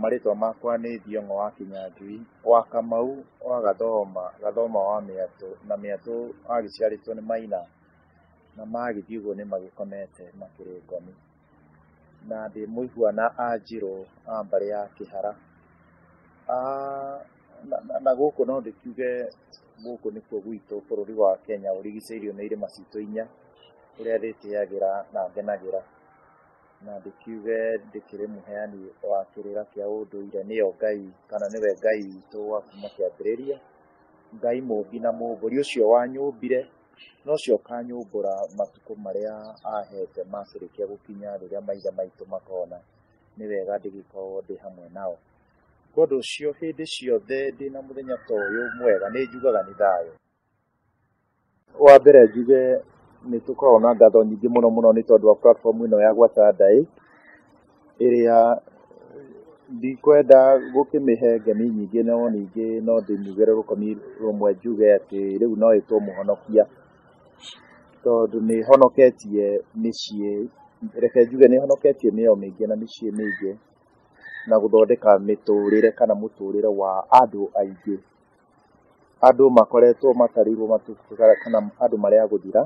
Marĩtwa makwa nĩ Thiong'o wa Kĩnyanjui, wa Kamau, wa Gathoma, Gathoma wa Mĩatũ, na Mĩatũ agĩciarĩtwo nĩ Maina, na magĩthiĩ ũguo nĩ magĩkomete makĩrĩ ngomi. Na ndĩ mũihua na Anjirũ a mbarĩ ya Kĩhara. na- na- na gũkũ no ndĩkiuge gũkũ nĩkuo gwitũ bũrũri wa kenya ũrigicĩirio nĩ irĩma citũ inya ũrĩa ndĩtĩagĩra na ngenagĩra na ndĩkiuge ndĩkĩrĩ mũheani wa kĩrĩra kĩa ũndũire nĩyo ngai kana nĩwe ngai witũ wa kuma kĩambĩrĩria ngai mũmbi na mũmbũri ũcio wanyũmbire na ũcio ũkanyũmbũra matukũ marĩa ahete makĩrĩkia gũkinya rĩrĩa maithe maitũ makona nĩ wega ndĩgĩkorwo ndĩ hamwe nao Kwa ũndũ ũcio, hĩndĩ ciothe ndĩ na mũthenya ta ũyũ mwega nĩ njugaga nĩ thayũ. Wa mbere njuge nĩ tũkoragwo na ngatho nyingĩ mũno mũno nĩ tondũ wa platform ĩno ya Gwa Tandai, ĩrĩa ndikwenda gũkĩmĩhe ngemi nyingĩ no ningĩ no ndĩmiuge rũkũmi rũmwe njuge atĩ rĩu no ĩtwo mũhonokia, tondũ nĩ ĩhonoketie mĩciĩ, reke njuge nĩ ĩhonoketie mĩoyo mĩingĩ na mĩciĩ mĩingĩ. na gũthondeka mĩtũrĩre kana mũtũrĩre wa andũ aingĩ. Andũ makoretwo matarĩirwo matukũ kana andũ marĩ a gũthira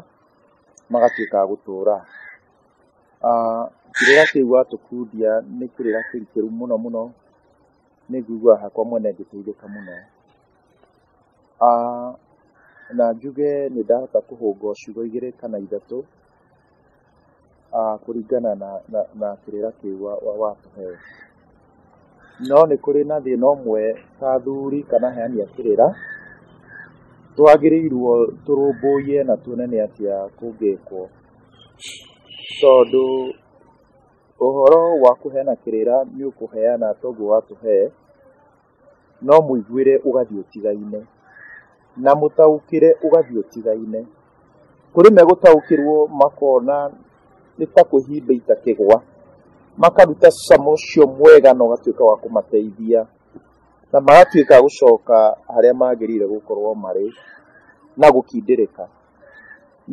magatuĩka a gũtũra. Kĩrĩra kĩu watũkundia nĩ kĩrĩra kĩrikĩru mũno mũno, nĩ njiguaga hakwa mwene ngĩteithĩka mũno. Na njuge nĩ ndahota kũhũngwo ciugo igĩrĩ kana ithatũ. ah, kũringana na, na, na kĩrĩra kĩu wa- wa- watũhe no nĩ kũrĩ na thĩna ũmwe ta athuri kana heani a kĩrĩra twagĩrĩirwo tũrũmbũiye na tuone nĩ atĩa kũngĩkwo tondũ ũhoro wa kũheana kĩrĩra nĩ ũkũheana toguo watũhe No mũiguĩre ũgathiĩ ũtigaine, na mũtaũkĩre ũgathiĩ ũtigaine. Kũrĩ megũtaũkĩrwo makona nĩ ta kwĩhimba itakĩgwa, makaruta cama ũcio mwega na ũgatuĩka wa kũmateithia, na magatuĩka a gũcoka harĩa magĩrĩire gũkorwo marĩ na gũkindĩrĩka.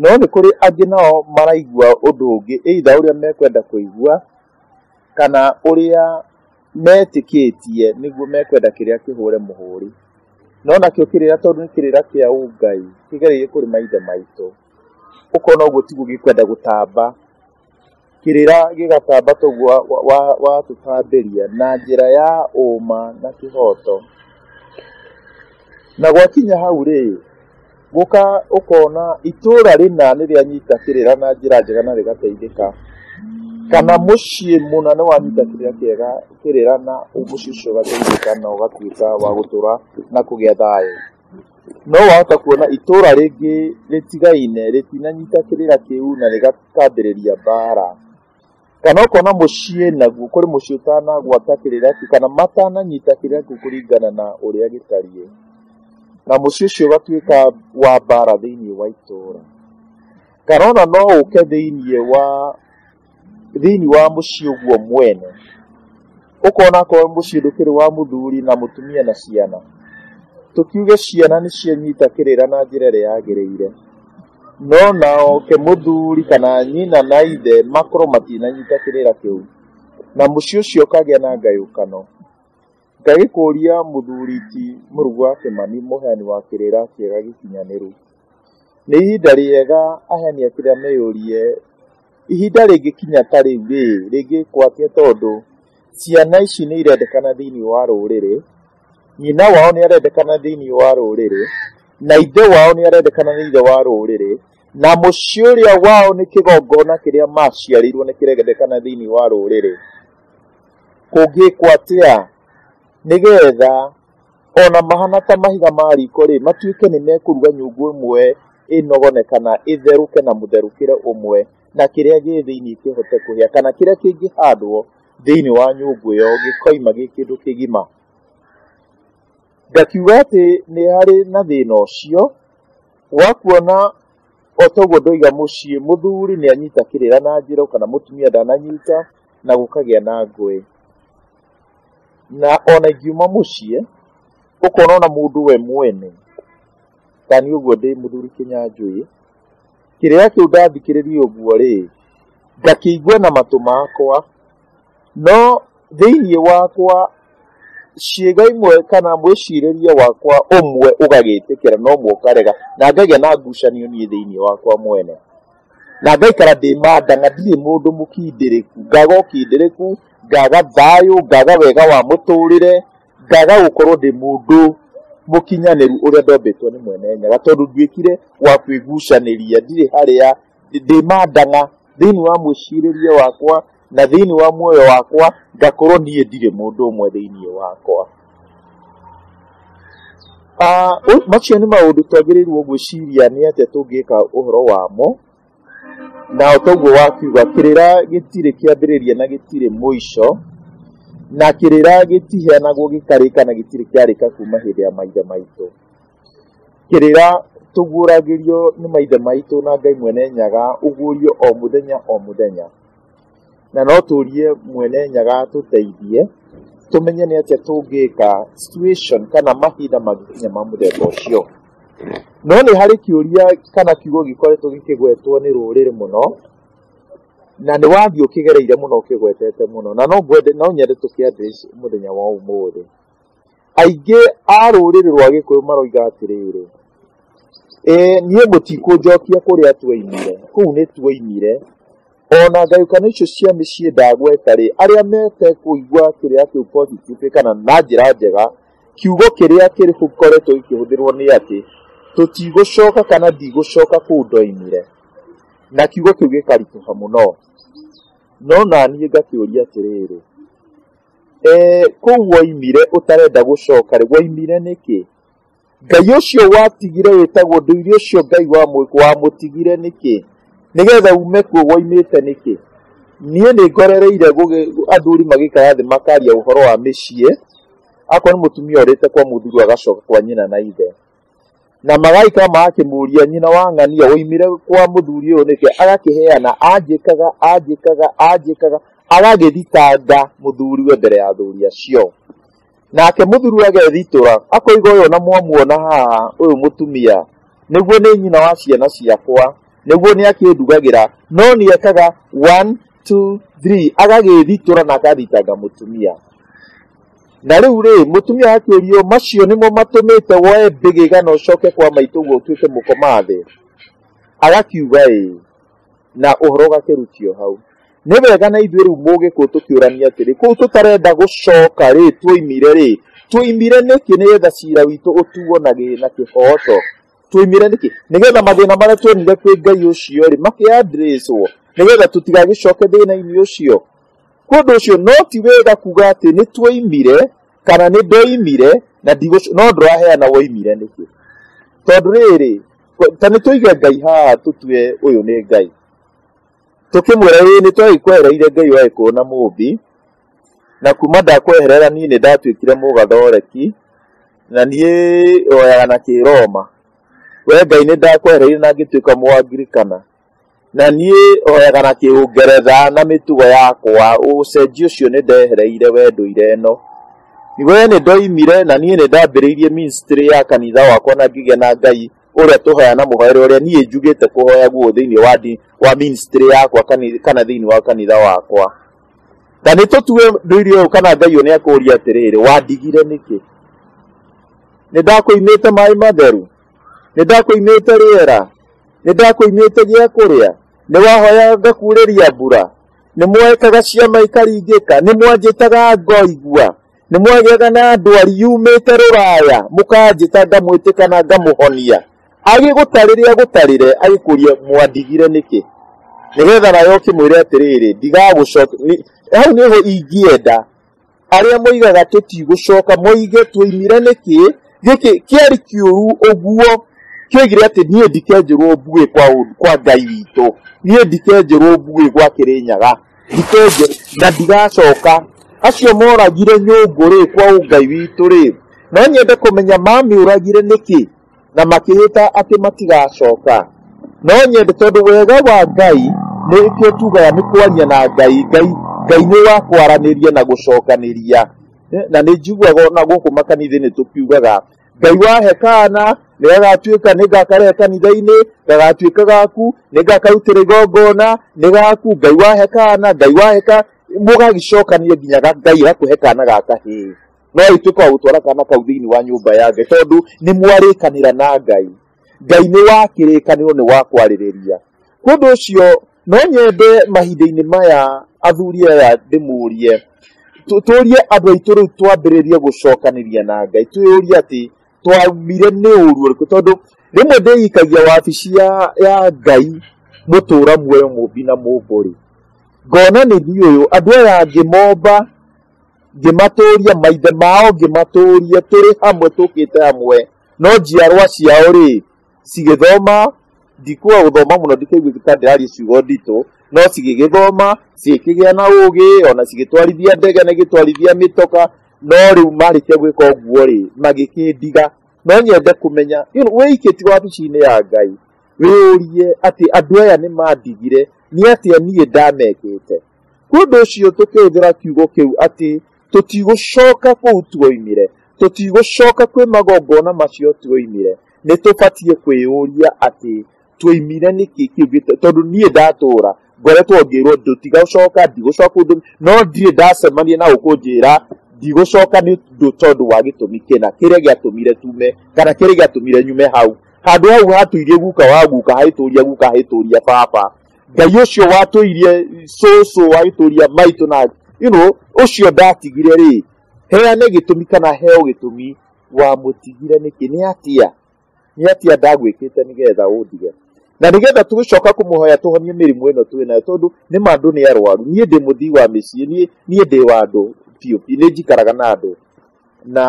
No nĩ kũrĩ angĩ nao maraigua ũndũ ũngĩ either ũrĩa mekwenda kũigua, kana ũrĩa metĩkĩtie nĩguo mekwenda kĩrĩa kĩhũre mũhũri no nakĩo kĩrĩra tondũ nĩ kĩrĩra kĩa ũngai kĩgereire kũrĩ maithe maitũ ũkona ũguo tiguo gĩkwenda gũtamba kĩrĩra gĩgatamba toguo watũtambĩria na njĩra ya ũma na kĩhoto na gwakinya hau rĩ Gũka ũkona itũũra rĩna nĩ rĩanyita kĩrĩra na njĩra njega na rĩgateithĩka, kana mũciĩ mũna nĩ wanyita kĩrĩra kĩega kĩrĩra na mũciĩ ũcio ũgateithĩka na ũgatuĩka wa gũtũra na kũgĩa thayũ. No wahota kuona itũũra rĩngĩ rĩtigaine rĩtinanyita kĩrĩra kĩu na rĩkambĩrĩria mbaara. kana ũkona mũciĩ naguo kũrĩ mũciĩ ũtanagwata kĩrĩra kĩu kana matananyita kĩrĩra kĩu kũringana na ũrĩa gĩtariĩ na mũciĩ ũcio ũgatuĩka wa mbara thĩinĩ wa itũũra kana ona no ũke thĩinĩ wa thĩinĩ wa mũciĩ ũguo mwene ũkona akorwo mũciĩ ndũkĩrĩ wa mũthuri na mũtumia na ciana tũkiuge ciana nĩ cianyita kĩrĩra na njĩra ĩrĩa yagĩrĩire no naoke mũthuri kana nyina na ithe makorwo matinanyita kĩrĩra kĩu na mũciĩ ũcio ũkagĩa na ngayũkano ngagĩkũria mũthuri ti mũrugu wa kĩmani mũheani wa kĩrĩra kĩega gĩkinyanĩru nĩ ihinda rĩega aheani a kĩrĩra meyũrie Ihinda rĩngĩkinya ta rĩu-rĩ, rĩngĩkwo atĩa tondũ ciana ici nĩ irendekana thĩinĩ wa rũrĩrĩ, nyina wao nĩ arendekana thĩinĩ wa rũrĩrĩ, na ithe wao nĩ arendekana thĩinĩ wa rũrĩrĩ, na mũciĩ ũrĩa wao nĩ kĩgongona kĩrĩa maciarĩirwo nĩ kĩrendekana thĩinĩ wa rũrĩrĩ. Kũngĩkwo atĩa nĩgetha... O na mahana ta mahiga ma riko-rĩ, matuĩke nĩ mekũruga nyũngũ ĩmwe ĩnogone kana ĩtherũke na mũtherũkĩre ũmwe, na kĩrĩa gĩ thĩinĩ kĩhote kũhĩa, kana kĩrĩa kĩngĩhandwo thĩinĩ wa nyũngũ ĩyo gĩkoima gĩ kĩndũ kĩgima. Ngakiuga atĩ nĩ harĩ na thĩna ũcio wa kuona o ta ũguo ndoiga mũciĩ, mũthuri nĩ anyita kĩrĩra na njĩra, o kana mũtumia ndananyita na gũkagĩa na ngũĩ. na ona ingiuma mũciĩ ũkona ona mũndũ we mwene ta niĩ ũguo ndĩ mũthuri kĩnyanjũĩ kĩrĩa kĩu ndathikĩrĩria ũguo rĩ ngakĩigua na matũ makwa no thĩinĩ wakwa ciĩga imwe kana mwĩcirĩrie wakwa ũmwe ũgagĩtĩkĩra na ũmwe ũkarega na ngagĩa na ngucanio niĩ thĩinĩ wakwa mwene na ngaikara ndĩ manda na ndirĩ mũndũ mũkindĩrĩku ngaga ũkindĩrĩku ngaga thayũ ngaga wega wa mũtũrĩre ngaga gũkorwo ndĩ mũndũ mũkinyanĩru ũrĩa ndombĩtwo nĩ mwene nyaga tondũ nduĩkire wa kwĩgucanĩria ndirĩ harĩa ndĩ mandanga thĩinĩ wa mwĩcirĩrie wakwa na thĩinĩ wa muoyo wakwa ngakorwo niĩ ndirĩ mũndũ ũmwe thĩinĩ wakwa Ah, ũ- macio nĩ maũndũ twagĩrĩirwo gwĩciria nĩ atĩa tũngĩka ũhoro wamo na toguo wakiuga kĩrĩra gĩtirĩ kĩambĩrĩria na gĩtirĩ mũico na kĩrĩra gĩtiheanagwo gĩkarĩka na gĩtirĩ kĩarĩka kuma hĩndĩ ya maithe maitũ kĩrĩra tũguũragĩrio nĩ maithe maitũ na ngai mwene nyaga ũguũrio o mũthenya o mũthenya na no tũrie mwene nyaga tũteithie tũmenye nĩ atĩa tũngĩka situation kana mahinda mangĩkinya ma mũthemba ũcio no nĩ harĩ kĩũria kana kiugo gĩkoretwo gĩkĩgwetwo nĩ rũrĩrĩ mũno na nĩ wathiĩ ũkĩgereire mũno ũkĩgwetete mũno na no ngwende no nyende tũkĩambĩrĩrie mũthenya wa ũmũthĩ Aingĩ a rũrĩrĩ rwa Gĩkũyũ maroiga atĩrĩrĩ, "Ee, niĩ mũtikũnjokia kũrĩa tuoimire, kũu nĩ tuoimire. O na ngayũkano icio cia mĩciĩ ndagweta-rĩ, arĩa metekũigua kĩrĩra kĩu positively kana na njĩra njega, kiugo kĩrĩa gĩkoretwo gĩkĩhũthĩrũo nĩ atĩ, tũtigũcoka kana ndigũcoka kũu ndoimire." Na kiugo kĩu gĩkaritũha mũno. No na niĩ ngakĩũria atĩrĩrĩ, Eh, kũu woimire ũtarenda gũcoka rĩ woimire nĩkĩ ngai ũcio watigire wĩtagwo ndũire ũcio ngai wa mũ- wamũtigire nĩkĩ nĩgetha ume kuo woimĩte nĩkĩ niĩ nĩ ngorereire gũgĩ- athuri magĩikara thĩ makaria ũhoro wa mĩciĩ akorwo nĩ mũtumia orĩte kwa mũthuri agacoka kwa nyina na ithe Na magaika magakĩmũria nyina wa ng'ania woimire kwa mũthuri ũyũ nĩkĩ, agakĩheana anjĩkaga anjĩkaga anjĩkaga, agagĩthitanga mũthuriwe mbere ya athuri acio. Nake mũthuri agethitũra, akoiga ũyũ na mwamuona haha, ũyũ mũtumia, nĩguo nĩ nyina wa ciana ciakwa, nĩguo nĩ akĩndugagĩra, no nĩ ekaga one, two, three, agagĩthitũra na akathitanga mũtumia. Na rĩu rĩ, mũtumia akĩũrio, macio nĩmo matũmĩte woe mbĩgĩga na ũcoke kwa maitũ ũguo ũtuĩke mũkomathĩ? Agakiuga ĩĩ, na ũhoro ũgakĩrutio hau. Nĩ wega na ithuĩ rĩu mũgĩkũyũ tũkĩũrania atĩrĩ, kũu tũtarenda gũcoka rĩ, twoimire rĩ, twoimire nĩkĩ nĩgetha cira witũ ũtuo na gĩ na kĩhooto? Twoimire nĩkĩ? Nĩgetha mathĩna marĩa tuonire kwĩ Ngai ũcio rĩ, makĩ address wo, nĩgetha tũtigagĩcoke thĩna-inĩ ũcio. Nĩ ũndũ ũcio no ti wega kuuga atĩ nĩ twoimire kana nĩ ndoimire na ndigũc- no ndũraheana woimire nĩkĩ tondũ rĩrĩ ko- ta nĩ tũige ngai haha tũtue ũyũ nĩ ngai tũkĩmwĩra ĩĩ nĩ twagĩkwehereire ngai waĩ kuona mũmbi na kuma ndakweherera niĩ nĩ ndatuĩkire mũgathoreki na niĩ oyaga na kĩroma we ngai nĩ ndakwehereire na ngĩtuĩka mũangirikana Na niĩ hoyaga na kĩũngeretha na mĩtugo yakwa, ũcenjio ũcio nĩ ndehereire we ndũire ĩno. We nĩ ndoimire na niĩ nĩ ndambĩrĩirie ministry ya kanitha wakwa na ngĩgĩa na Ngai ũrĩa tũhoya na mũhoere ũrĩa niĩ njugĩte kũhoya guo thĩinĩ wa ndini wa ministry yakwa kani- kana thĩinĩ wa kanitha wakwa. Na nĩ tũtue ndũire ũyũ kana Ngai ũyũ nĩ akũũria atĩrĩrĩ, wandigire nĩkĩ? Nĩ ndakũimĩte maĩ matheru? nĩ ndakũimĩte rĩera nĩ ndakũimĩte gĩa kũrĩa nĩ wahoyaga ngakuurĩria mbura nĩ mwaĩkaga ciama ikaringĩka nĩ mwanjĩtaga ngoigua nĩ mwagĩaga na ndwari yumĩte rũraya mũkanjĩta ngamwĩtĩka na ngamũhonia agĩgũtarĩre agũtarĩre agĩkũria mwandigire nĩkĩ nĩgetha nayo ũkĩmwĩre atĩrĩrĩ ndigagũcokia hau nĩho ingĩenda arĩa moigaga tũtigũcoka moige twoimire nĩkĩ gĩkĩ kĩarĩ kĩũru ũguo kĩoigire atĩ niĩ ndikenjĩrwo mbuĩ kwa, ũ- kwa ngai witũ niĩ ndikenjĩrwo mbuĩ gwa kĩrĩnyaga ndikenjĩ na ndigacoka acio moragire nyũngũ rĩ kwa ũngai witũ rĩ no nyende kũmenya mamĩũragire nĩkĩ na makĩhĩta atĩ matigacoka no nyende tondũ wega wa ngai nĩ kĩo tugaga nĩ kwaria na ngai ngai ngai nĩ wa kwaranĩria na gũcokanĩria Eh, na nĩ njiguaga ona gũkũ makanitha-inĩ tũkiugaga ngai wa hekana nĩ gagatuĩka nĩ ngakarehe kanitha-inĩ gagatuĩka gaku nĩ ngakarutĩra igongona nĩ gaku ngai wa hekana ngai wa heka mũgagĩcokania nginya ga- ngai gakũhe kana ga kahĩĩ no ĩtuĩke wa gũtwara kana kau thĩinĩ wa nyũmba ya ngai tondũ nĩ mwarĩkanĩra na ngai ngai nĩ wa kĩrĩkanĩro nĩ wa kwarĩrĩria kũndũ ũcio no nyende mahinda-inĩ maya athuri aya ndĩmũrie tũ- tũrie andũ aitũ rĩu twambĩrĩrie gũcokanĩria na ngai twĩyũrie atĩ twagire nĩ ũru ũrĩkũ tondũ rĩmwe ndĩikagia wabici ya, ya ngai mũtũra muoyo mũmbi na mũmbũrĩ ngona nĩ niũyũ andũ aya angĩ momba Ngĩmatũũria maithe mao, ngĩmatũũria tũrĩ hamwe tũkĩte hamwe, no njiarwa ciao-rĩ, cigĩthoma, ndikuga gũthoma mũno ndikaigua ta ndĩraria ciugo nditũ, no cigĩgĩthoma, cigĩkĩgĩa na ũũgĩ, ona cigĩtwarithia ndege na igĩtwarithia mĩtoka, no rĩu marĩkia gwĩka ũguo-rĩ, magĩkĩndiga. No nyende kũmenya, wĩ ikĩtio wabici-inĩ ya Ngai, wĩyũrie atĩ andũ aya nĩmandigire, nĩ atĩa niĩ ndamekĩte? Nĩ ũndũ ũcio tũkĩhũthĩra kiugo kĩu atĩ tũtigũcoka kũu tuoimire, tũtigũcoka kwĩ magongona macio tuoimire, nĩ tũbatiĩ kwĩyũria atĩ tuoimire nĩkĩ kĩu gĩtũ- tondũ niĩ ndatũũra ngoretwo ngĩrwo ndũtigũcoka ndigũcoka kũndũ no ndirĩ ndacemania na ũkũnjĩra ndigũcoka nĩ ũndũ tondũ wa gĩtũmi kĩna kĩrĩa gĩatũmire tume kana kĩrĩa gĩatũmire nyume hau handũ hau hatũirie guka wa guka haitũria guka haitũria baba ngai ũcio watũirie cũcũ agĩtũria maitũ na you know, ũcio ndatigire rĩ heane gĩtũmi kana heo gĩtũmi wamũtigire nĩkĩ nĩ atia nĩ atia ndagwĩkĩte nĩgetha ũndige na nĩgetha tũgĩcoka kũmũhoya tũhonie mĩrimũ ĩno twĩ nayo tondũ nĩ ma andũ nĩ arwaru niĩ ndĩ mũthii wa mĩciĩ niĩ niĩ ndĩ wa andũ biũ biũ nĩ njikaraga na andũ na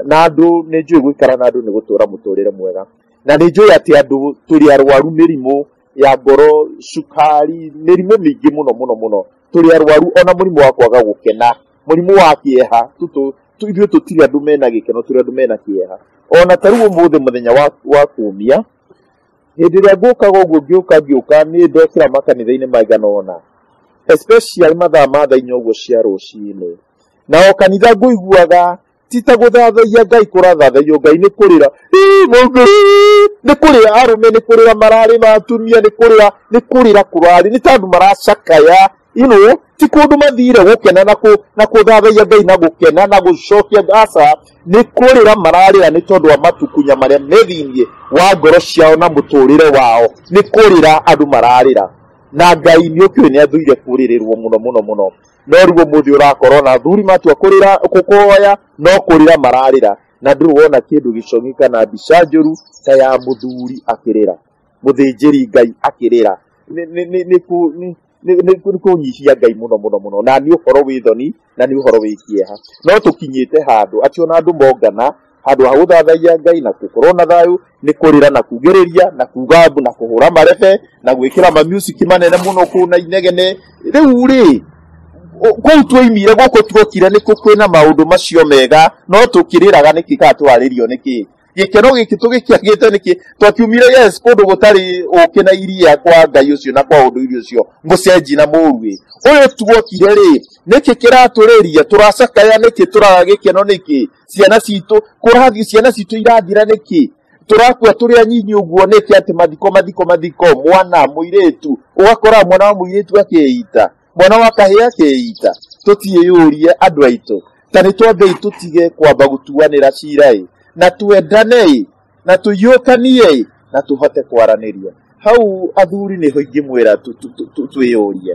na andũ nĩ njũĩ gũikara na andũ nĩ gũtũra mũtũrĩre mwega na nĩ njũĩ atĩ andũ tũrĩ arwaru mĩrimũ ya ngoro cukari mĩrimũ mĩingĩ mũno mũno mũno tũrĩ arwaru ona mũrimũ wa kwaga gũkena mũrimũ wa kĩeha tũtũ tũ- ithuĩ tũtirĩ andũ mena gĩkeno tũrĩ andũ mena kĩeha ona ta rĩu ũmũthĩ mũthenya wa, wa kumia hĩndĩ ĩrĩa ngũkaga ũguo ngĩũka ngĩũka nĩ ndokĩra makanitha-inĩ maigana ũna especially mathaa ma thaa inya ũguo cia rũcinĩ na o kanitha ngũiguaga ti ta gũthathaiya ngai kũrathathaiyo ngai nĩ kũrĩra "Ii, mũndũ, ii." nĩ kũrĩra arũme nĩ kũrĩra mararĩ na atumia nĩ kũrĩra nĩ kũrĩra kũrarĩ nĩ tandũ maracakaya ino ti kũndũ mathire gũkena na kũ- na kũthathaiya ngai na gũkena na gũcokia aca nĩ kũrĩra mararĩra nĩ tondũ wa matukunya marĩa me thĩinĩ wa ngoro ciao na mũtũrĩre wao nĩ kũrĩra andũ mararĩra na ngai nĩ ũkĩũĩ nĩ athũire kũrĩrĩrwo mũno mũno mũno no rĩu ũmũthĩ ũrakorwo na athuri matua kũrĩra kũkũhoya no kũrĩra mararĩra na ndũrĩ wona kĩndũ gĩcong'i kana mbica njũru ta ya mũthuri akĩrĩra mũthĩnjĩri ngai akĩrĩra Nĩ- nĩ- nĩ- nĩ kũ- nĩ- nĩ- nĩ kũ- nĩ kũnyihia ngai mũno mũno mũno na nĩ ũhoro wĩ thoni na nĩ ũhoro wĩ kĩeha no tũkinyĩte handũ atĩ ona andũ mongana handå ha gå thathaia ngai na gå korwo na thayå nä kå rä ra na kugä rä ria na kuga mbu na kå hå ra marebe na gwä kä ra mamuciki manene må no kå na inegene rä u rä kũu twoimire gũkũ tuokire nĩ kwĩna maũndũ macio mega no tũkĩrĩraga nĩkĩ kana twarĩrio nĩkĩ gĩkeno gĩkĩ tũgĩkĩagĩte nĩkĩ twakiumire yes kũndũ gũtarĩ ũkĩ na iria kwa ngai ũcio na kwa ũndũ irio ũcio mũcenji na mũruĩ ũyũ tuokire rĩ nĩkĩ kĩratũrĩria tũracakaya nĩkĩ tũraga gĩkeno nĩkĩ ciana citũ kũrathiĩ ciana citũ irathira nĩkĩ tũrakua tũrĩ anyinyi ũguo nĩkĩ atĩ mathiko mathiko mathiko mwana mũirĩtu ũgakora mwana wa mũirĩtu akeita mwana wa kahĩĩ akeita tũtiĩyũrie andũ aitũ ta nĩ twambei tũtige kwamba gũtuanĩra cira-ĩ na twendane-ĩ na tũiyũkanie-ĩ na tũhote kwaranĩria hau athuri nĩho ingĩmwĩra twĩyũrie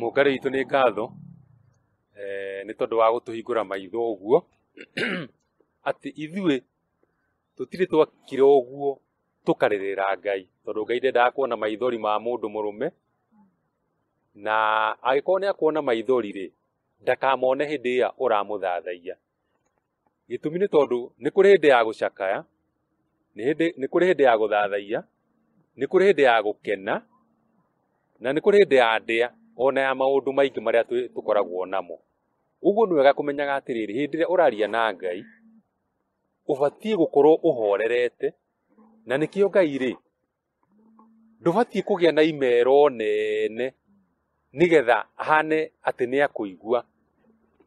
Mũngarĩ witũ nĩ ngatho eh, nĩ tondũ wa gũtũhingũra maitho ũguo atĩ ithuĩ tũtirĩ twakire ũguo tũkarĩrĩra Ngai tondũ Ngai ndendaga kuona maithori ma mũndũ mũrũme na agĩkorwo nĩ akuona maithori rĩ ndakamone hĩndĩ ĩrĩa ũramũthathaiya gĩtũmi nĩ tondũ nĩ kũrĩ hĩndĩ ya gũcakaya nĩ kũrĩ hĩndĩ ya gũthathaiya nĩ kũrĩ hĩndĩ ya gũkena na nĩ kũrĩ hĩndĩ ya ndĩa ona ya maũndũ maingĩ marĩa tũkoragwo namo ũguo nĩ wega kũmenyaga atĩrĩrĩ hĩndĩ ĩrĩa ũraria na Ngai ũbatiĩ gũkorwo ũhorerete na nĩkĩo Ngai rĩ ndũbatiĩ kũgĩa na imero nene nĩgetha ahane atĩ nĩ akũigua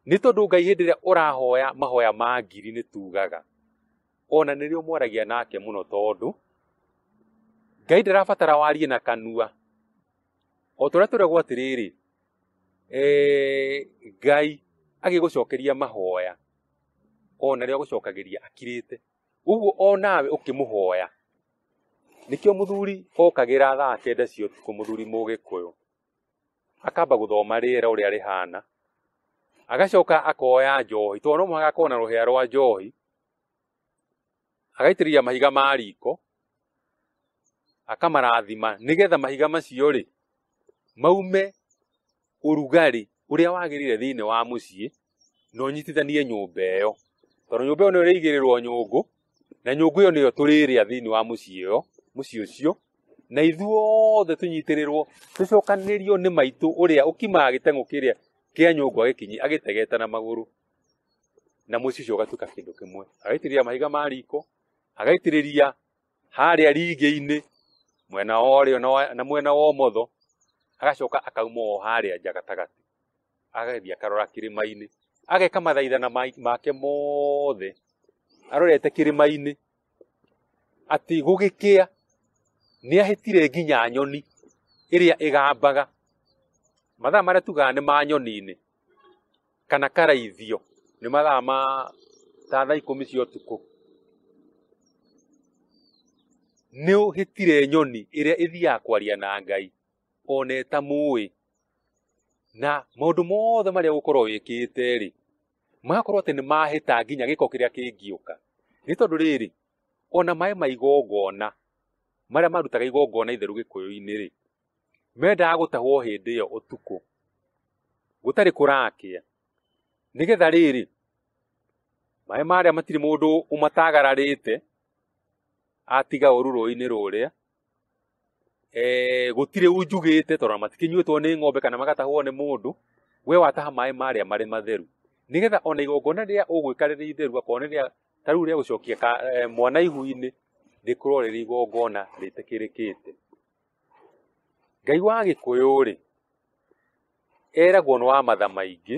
nĩ tondũ ngai hĩndĩ ĩrĩa ũrahoya mahoya ma ngiri nĩ tugaga ona nĩ rĩo mwaragia nake mũno tondũ ngai ndarabatara warie na kanua o tũrĩa tũregwo atĩrĩrĩ eh, ngai agĩgũcokeria mahoya ona rĩo agũcokagĩria akirĩte ũguo onawe ũkĩmũhoya nĩkĩo mũthuri okagĩra thaa kenda cia ũtukũ mũthuri mũgĩkũyũ akamba gũthoma rĩera ũrĩa rĩhana agacoka akoya njohi tondũ no mũhaka akorwo na rũhĩa rwa njohi agaitĩrĩria mahiga ma riko akamarathima nĩgetha mahiga macio rĩ maume ũrugarĩ ũrĩa wagĩrĩire thĩinĩ wa mũciĩ na ũnyitithanie nyũmba ĩyo tondũ nyũmba ĩyo nĩyo ĩrĩigĩrĩrwo nyũngũ na nyũngũ ĩyo nĩyo tũrĩrĩa thĩinĩ wa mũciĩ ĩyo mũciĩ ũcio na ithuothe tũnyitĩrĩrwo tũcokanĩrĩrio nĩ maitũ ũrĩa ũkimaga gĩteng'ũ kĩrĩa kĩa nyũngũ agĩkinyi agĩtegeta na magũrũ na mũciĩ ũcio ũgatuĩka kĩndũ kĩmwe agaitĩrĩria mahiga ma riko agaitĩrĩria harĩa ringĩ-inĩ mwena wa ũrĩo na wa- na mwena wa ũmotho agacoka akauma o harĩa nja gatagatĩ agathiĩ akarora kĩrĩma-inĩ ageka mathaithana ma- make mothe arorete kĩrĩma-inĩ atĩ gũgĩkĩa nĩ ahĩtire nginya nyoni ĩrĩa ĩgambaga mathaa marĩa tugaga nĩ ma nyoni-inĩ kana karaithio nĩ mathaa ma ta thaa ikũmi cia ũtukũ nĩ ũhĩtire nyoni ĩrĩa ĩthiaga kwaria na ngai one ta mũĩ na maũndũ mothe marĩa ũgũkorwo wĩkĩte rĩ magakorwo atĩ nĩ mahĩta nginya gĩko kĩrĩa kĩngĩũka nĩ tondũ rĩrĩ ona maĩ ma igongona marĩa marutaga igongona itheru gĩkũyũ-inĩ rĩ mendaga gũtahwo hĩndĩ ĩyo ũtukũ gũtarĩ kũrakĩa nĩgetha rĩrĩ maĩ marĩa matirĩ mũndũ ũmatagararĩte atiga ũru rũĩ-inĩ rũrĩa eh, gũtirĩ unjugĩte tondũ matikinyuĩtwo nĩ ng'ombe kana magatahwo nĩ mũndũ we wataha maĩ marĩa marĩ matheru nĩgetha ona igongona rĩrĩa ũgwĩka rĩrĩ itheru akorwo nĩ rĩa ta rĩu rĩa gũcokia ka- eh, mwana ihu-inĩ rĩkorwo rĩrĩ igongona rĩtĩkĩrĩkĩte ngai wa gĩkũyũ rĩ eragwo nĩ wa matha maingĩ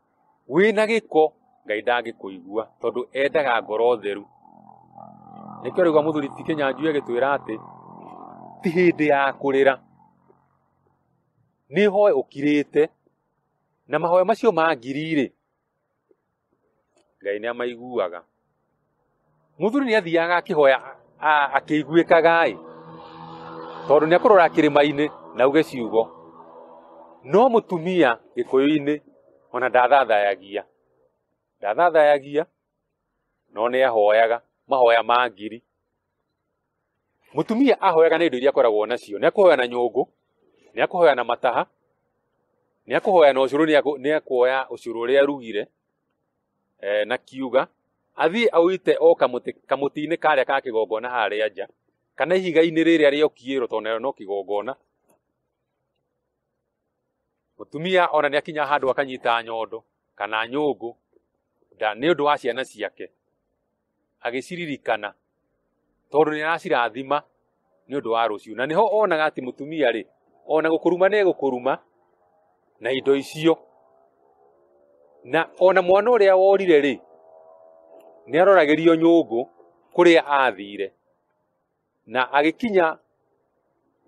wĩ na gĩko ngai ndangĩkũigua tondũ endaga ngoro theru nĩkĩo rĩu mũthuri ti kĩnyanju agĩtwĩra atĩ ti hĩndĩ ya kũrĩra nĩ hoe ũkirĩte na mahoya macio ma ngiri-rĩ ngai nĩ amaiguaga Mũthuri nĩ athiaga akĩhoya akĩiguĩkaga-ĩ, tondũ nĩ akũrora kĩrĩma-inĩ na auge ciugo. No mũtumia gĩkũyũ-inĩ ona ndathathayagia, ndathathayagia no nĩ ahoyaga mahoya ma ngiri. Mũtumia ahoyaga na indo iria akoragwo nacio, nĩ akũhoya na nyũngũ, nĩ akũhoya na mataha, nĩ akũhoya na ũcũrũ, nĩ akuoya ũcũrũ ũrĩa arugire. e, na kiuga athiĩ aũite o kamũtĩ kamũtĩ-inĩ karĩa ka kĩgongona harĩa nja kana ihiga-inĩ rĩrĩa rĩa ũkiĩro tondũ narĩo no kĩgongona mũtumia ona nĩ akinya handũ akanyita nyondo kana nyũngũ nda nĩ ũndũ wa ciana ciake agĩciririkana tondũ nĩ aracirathima nĩ ũndũ wa rũciũ na nĩho onaga atĩ mũtumia rĩ ona gũkũruma nĩ gũkũruma na indo icio na ona mwana ũrĩa worire rĩ nĩ aroragĩrio nyũngũ kũrĩa athire na agĩkinya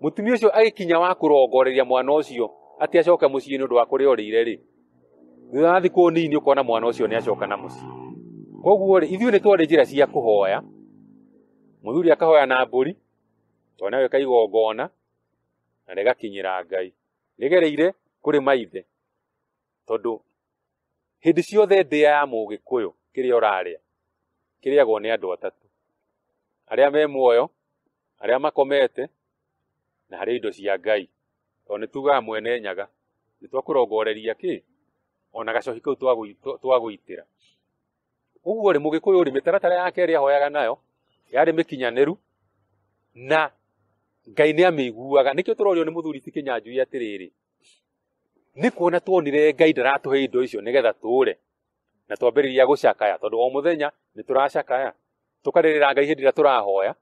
mũtumia ũcio agĩkinya wa kũrongoreria mwana ũcio atĩ acoke mũciĩ nĩ ũndũ wa kũrĩa ũrĩire rĩ thutha wa thikũ nini ũkona mwana ũcio nĩ acoka na mũciĩ koguo rĩ ithuĩ nĩ twarĩ njĩra cia kũhoya mũthuri akahoya na mbũri twana weka igongona na rĩgakinyĩra ngai rĩgereire kũrĩ maithe tondũ hĩndĩ ciothe ndĩa ya mũgĩkũyũ kĩrĩa ũrarĩa kĩrĩagwo nĩ andũ atatũ arĩa me muoyo arĩa makomete na harĩ indo cia ngai tondũ nĩ tugaga mwene nyaga nĩ twakũrongoreria kĩ ona gacoki kau twagũitĩra ũguo rĩ mũgĩkũyũ rĩ mĩtaratara yake ĩrĩa ahoyaga nayo yarĩ mĩkinyanĩru na ngai nĩ amĩiguaga nĩkĩo tũrorio nĩ mũthuri ti kĩnyanjui atĩrĩrĩ nĩ kuona tuonire ngai ndaratũhe indo icio nĩgetha tũũre na twambĩrĩria gũcakaya tondũ o mũthenya nĩ tũracakaya tũkarĩrĩra ngai hĩndĩ ĩrĩa tũrahoya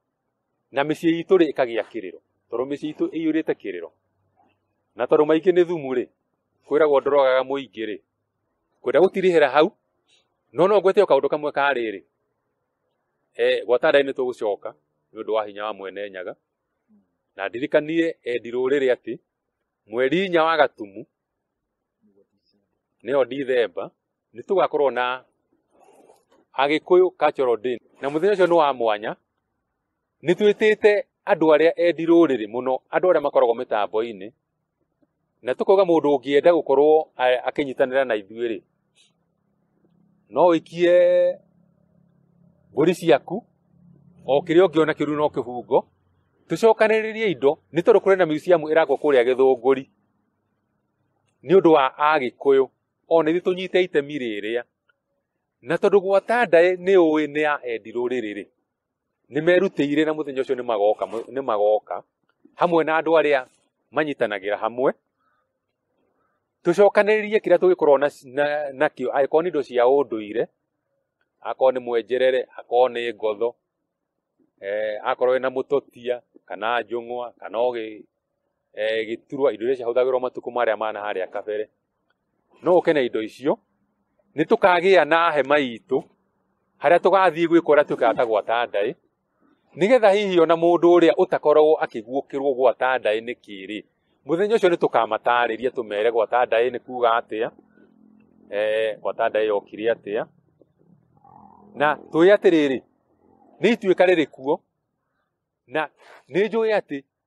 na mĩciĩ itũ rĩ ĩkagĩa kĩrĩro tondũ mĩciĩ itũ ĩiyũrĩte kĩrĩro na tondũ maingĩ nĩ thumu rĩ kwĩragwo ndorogaga mũingĩ rĩ kwenda gũtirĩhĩra hau no no ngwete o kaũndũ kamwe ka rĩrĩ eh, gwata ndaĩ nĩ tũgũcoka nĩ ũndũ wa hinya wa mwene nyaga na ndirikanie endi rũrĩrĩ atĩ mweri inya wa gatumu nĩyo ndithemba nĩ tũgakorwo na agĩkũyũ cultural day na mũthenya ũcio nĩ wa mwanya nĩ twĩtĩte andũ arĩa endi rũrĩrĩ mũno andũ arĩa makoragwo mĩtambo-inĩ na tũkauga mũndũ ũngĩenda gũkorwo akĩnyitanĩra na ithuĩ rĩ no wĩkie mbũri ciaku o kĩrĩa ũngĩona kĩru no kĩhungo tũcokanĩrĩrie indo nĩ tondũ kũrĩ na museum ĩrakwo kũrĩa gĩthũngũri nĩ ũndũ wa agĩkũyũ o na ithuĩ tũnyite itemi rĩrĩa na tondũ gwata ndaĩ nĩ ũĩ nĩ ya endi rũrĩrĩ rĩ nĩ merutĩire na mũthenya ũcio nĩ magoka mũ- nĩ magoka hamwe na andũ arĩa manyitanagĩra hamwe tũcokanĩrĩrie kĩrĩa tũgĩkorwo na, na, nakĩo angĩkorwo nĩ indo cia ũndũire akorwo nĩ mwenjerere akorwo nĩ ngotho eh, akorwo wĩna mũtotia kana njũng'wa kana ũgĩ eh, gĩturwa indo iria ciahũthagĩrwo matukũ marĩa ma na harĩa kabere no ũke na indo icio nĩ tũkagĩa na hema itũ harĩa tũgathiĩ gwĩkora tũkaga ta gwata ndaĩ nĩgetha hihi ona mũndũ ũrĩa ũtakoragwo akĩguũkĩrwo gwata ndaĩ nĩ kĩrĩ mũthenya ũcio nĩ tũkamatarĩria tũmere gwata ndaĩ nĩ kuga atĩa eh, gwata ndaĩ yokire atĩa na tũĩ atĩrĩrĩ nĩ ituĩka rĩrĩ kuo na nĩ njũĩ atĩ